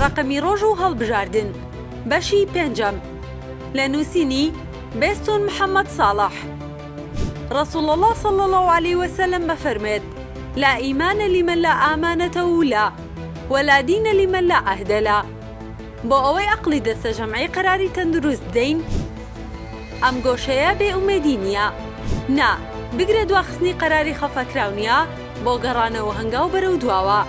ڕەقەمی ڕۆژ و هەڵبژاردن بەشی پێنجەم لە نووسینی بێستوون محەممەد ساڵح ڕەسووڵ اللە صلی اللە علیە وسلم ئەفەرموێت لا ئیمانە لمن لا ئامانەتە و لا ولا دینە لمن لا عەهدە لا بۆ ئەوەی ئەقڵی دەستە جەمعی قەراری تەندروست بدەین ئەم گۆشەیە بێ ئومێدی نیە نا بگرە دواخستنی قەراری خەفەکراو نیە بۆ گەڕانەوە هەنگاو بەرەو دواوە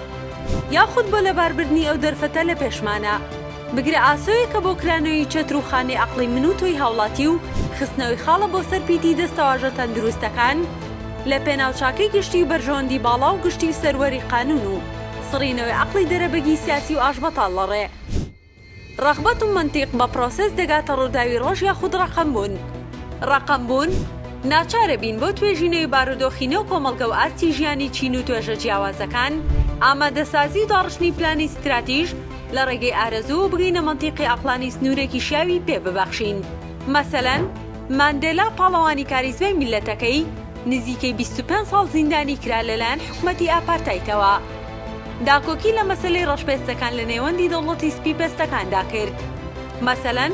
یاخود بۆ لەباربردنی ئەو دەرفەتە لە پێشمانە بگرە ئاسۆیەکە بۆ کرانەوی چەتر و خانەی ئەقڵی من و تۆی هاوڵاتی و خستنەوەی خاڵە بۆ سەر پیتی دەستەواژە تەندروستەکان لە پێناو چاکەی گشتی و بەرژەوەندی باڵا و گشتی و سەروەری قانون و سڕینەوەی عەقڵی دەرەبەگی سیاسی و ئاشبەتاڵ لە ڕێ ڕەغبەت و مەنتیق بە پرۆسێس دەگاتە ڕووداوی ڕۆژ یاخود ڕەقەم بوون. ڕەقەم بوون، ناچارە بین بۆ توێژینەوەی بارودۆخی نێو کۆمەڵگە و ئاستی ژیانی چین و توێژە جیاوازەکان، ئامادەسازی و داڕشتنی پلانی ستراتیژ لە ڕێگەی ئارەزوو و بگەینە مەنتیقی عەقڵانی سنوورێکی شیاوی پێ ببەخشین. مەسەلەن. ماندێلا پاڵەوانی کاریزمای میللەتەکەی نزیکەی بیست و پێنج ساڵ زیندانی کرا لەلایەن حکومەتی ئاپارتایتەوە. داکۆکی لە مەسەلەی ڕەشپێستەکان لە نێوەندی دەوڵەتی سپی پێستەکاندا کرد. مەسەلەن،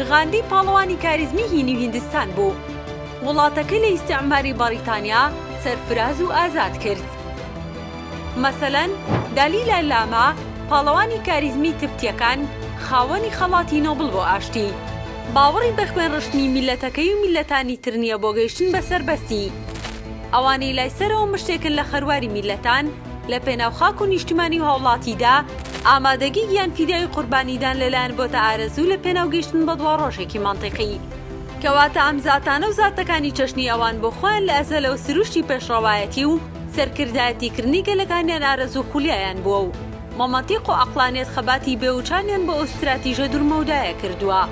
غاندی پاڵەوانی کاریزمی هینی و هیندستان بوو. وڵاتەکەی لە ئیستیعماری بەڕیتانیا سەرفراز و ئازاد کرد. مەسەلەن، دالیلا لاما پاڵەوانی کاریزمی تبتیەکان خاوەنی خەڵاتی نۆبڵ بۆ ئاشتی. باوەڕی بە خوێن ڕشتنی میللەتەکەی و میللەتانی تر نیە بۆ گەیشتن بە سەربەستی. ئەوانەی لای سەرەوە مشتێکن لە خەرواری میللەتان، لە پێناو خاک و نیشتمانی و هاوڵاتیدا، ئامادەگی گیان فیدایی قوربانیدان لە لایەن بۆتە ئارەزوو لە پێناو گەیشتن بە دواڕۆژێکی مەنتیقی. کەواتە ئەم زاتانە و زاتەکانی چەشنی ئەوان بۆ خۆیان لە ئەزەلەوە سروشتی پێشڕەوایەتی و سەرکردایەتی کردنی گەلەکانیان ئارەزوو خولیایان بووە و، مەمەتیق و عەقڵانیەت خەباتی بێوچانیان بۆ ئەو ستراتیژە دورمەودایە کردوە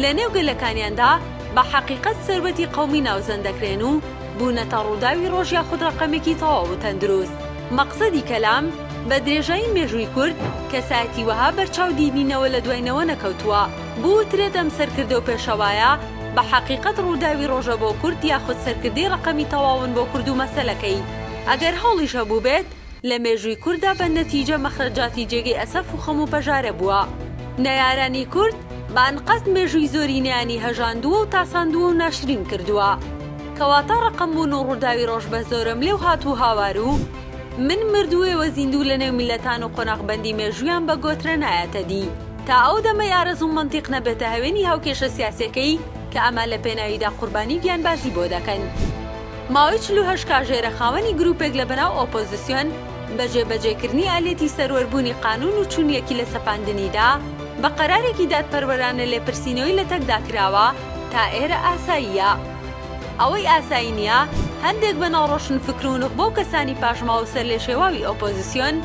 لە نێو گەلەکانیاندا بە حەقیقەت سەروەتی قەومی ناوزەند دەکرێن و بونەتە ڕوداوی ڕۆژ یاخود ڕەقەمێکی تەواو و تەندروست. مەقسەدی کەلام، بە درێژایی مێژوی کورد کەسایەتی وەها بەرچاو دیدی نەوە لە دوای نەوە نەکەوتوە بوترێت ئەم سەرکردە و پێشەوایە بە حەقیقەت ڕوداوی ڕۆژە بۆ کورد یاخود سەرکردەی ڕەقەمی تەواون بۆ کورد و مەسەلەکەی ئەگەر هەوڵیش هەبوبێت لە مێژووی کورددا بە نەتیجە مەخرەجاتی جێگەی ئەسەف و خەم و پەژارە بووە. نەیارانی کورد بە ئەنقەست مێژووی زۆرینەیانی هەژاندووە و تاساندووە و ناشرین کردووە. کەواتە ڕەقەمبوون و ڕووداوی ڕۆژ بە زۆرەملێ و هات و هاوار و من مردووێ وە زیندوو لە نێو میللەتان و قۆناغبەندی مێژوویان بە گۆترە نایەتە دی تا ئەو دەمەی ئارەزوو مەنتیق نەبێتە هەوێنی هاوکێشە سیاسیەکەی کە ئەمە لە پێناویدا قوربانی گیانبازی بۆ دەکەن. ماوەی چل و هەشت کاژێرە خاوەنی گروپێک لە بەناو ئۆپۆزسیۆن بە جێ بەجێ کردنی ئالێتی سەروەر بوونی قانون و چون یەکی لە سەپاندنیدا بە قەرارێکی دادپەروەرانە لێپرسینەوەی لە تەکدا کراوە تا ئێرە ئاساییە ئەوەی ئاسایی نیە هەندێک بەناو ڕۆشن فکر و نوخبە و کەسانی پاشماوە و سەرلێشێواوی ئۆپۆزسیۆن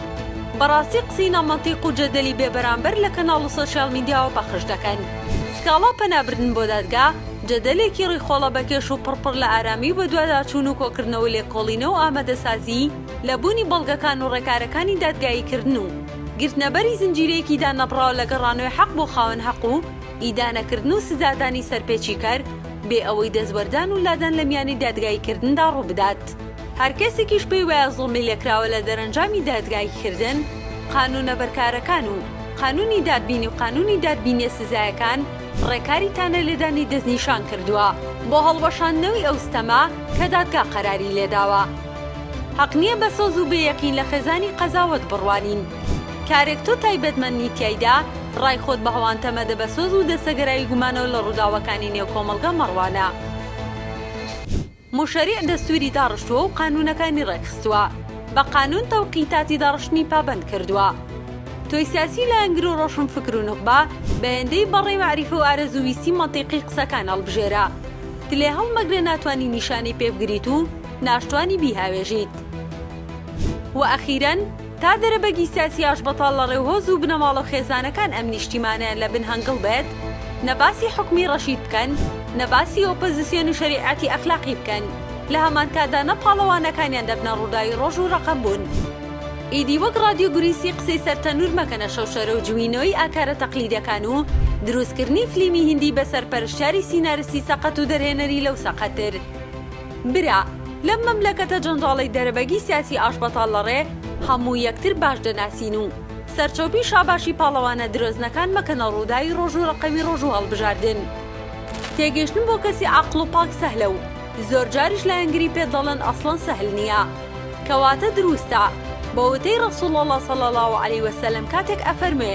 بەڕاستی قسەی نا مەنتیق و جەدەلی بێ بەرامبەر لە کەناڵ و سۆشیال میدیاوە پەخش دەکەن سکاڵا پەنا بردن بۆ دادگا جەدەلێکی ڕیخۆڵە بەکێش و پڕ پڕ لە ئارامی و بەدواداچوون و کۆکردنەوە و لێکۆڵینەوە و ئامادەسازی لە بوونی بەڵگەکان و ڕێکارەکانی دادگاییکردن و گرتنەبەری زنجیرەیەکی دانەبڕاو لە گەڕانەوەی حەق بۆ خاوەن حەق و ئیدانەکردن و سزادانی سەرپێچیکەر بێ ئەوەی دەستوەردان و لادان لە میانی دادگاییکردندا ڕووبدات. هەر کەسێکیش پێی وایە زوڵمی لێکراوە لە دەرەنجامی دادگاییکردن، قانوونە بەرکارەکان و قانوونی دادبینی و قانوونی دادبینییە سزایەکان، ڕێکاری تانە لێدانی دەستنیشان کردووە بۆ هەڵوەشاندنەوەی ئەو ستەمە کە دادگا قەراری لێداوە. هەق نییە بە سۆز و بێ یەقین لە خێزانی قەزاوەت بڕوانین. کارێک تۆ تایبەتمەند نیت تیایدا ڕای خۆت بە هەوانتە مەدە بە سۆز و دەستەگەرایی گومانەوە لە ڕووداوەکانی نێو کۆمەڵگە مەڕوانە. موشەریع دەستووری داڕشتووە و قانوونەکانی ڕێکخستووە. بە قانوون تەوقیتاتی داڕشتنی پابەند کردووە. تۆی سیاسی و لایەنگر و ڕۆشنفکر و نوخبە، بەیەندەی بەڕەی مەعریفە و ئارەزوو ویستی مەنتیقی قسەکان هەڵبژێرە. تلێ هەڵمەگرە ناتوانی نیشانەی پێ بگریت و ناشتوانی بیهاوێژیت. وە ئەخیرەن، تا دەرەبەگی سیاسی ئاشبەتاڵ لە ڕێ هۆز و بنەماڵەو خێزانەکان ئەم نیشتیمانەیان لە بن هەنگڵ بێت نە باسی حوکمی ڕەشید بکەن نە باسی ئۆپەزسیۆن و شەریعەتی ئەخلاقی بکەن لە هەمان کاتدا نە پاڵەوانەکانیان دەبنە ڕووداوی ڕۆژ و ڕەقەم بوون ئیدی وەک ڕادیۆ گوریسی قسەی سەر تەنور مەکەنە شەوشەرەو جوینۆی ئاکارە تەقلیدەکان و دروست کردنی فلیمی هیندی بە سەرپەرشتیاری سینارستی سەقەت و دەرهێنەری لەو سەقەتر. برا لەم مەملەکەتە جەنجاڵەی دەرەبەگی سیاسی ئاشبەتاڵ لەڕێ هەموو یەکتر باش دەناسین و سەرچۆپی شاباشی پاڵەوانە درۆزنەکان مەکەنە ڕووداوی ڕۆژ و ڕەقەمی ڕۆژ و هەڵبژاردن تێگەیشتن بۆ کەسی عاقڵ و پاک سەهلە و زۆر جاریش لایەنگری پێت دەڵێن ئەسڵەن سەهل نیە کەواتە دروستە بە وتەی ڕەسوڵ اللە صلی اللە علیە وسلم کاتێک ئەفەرموێ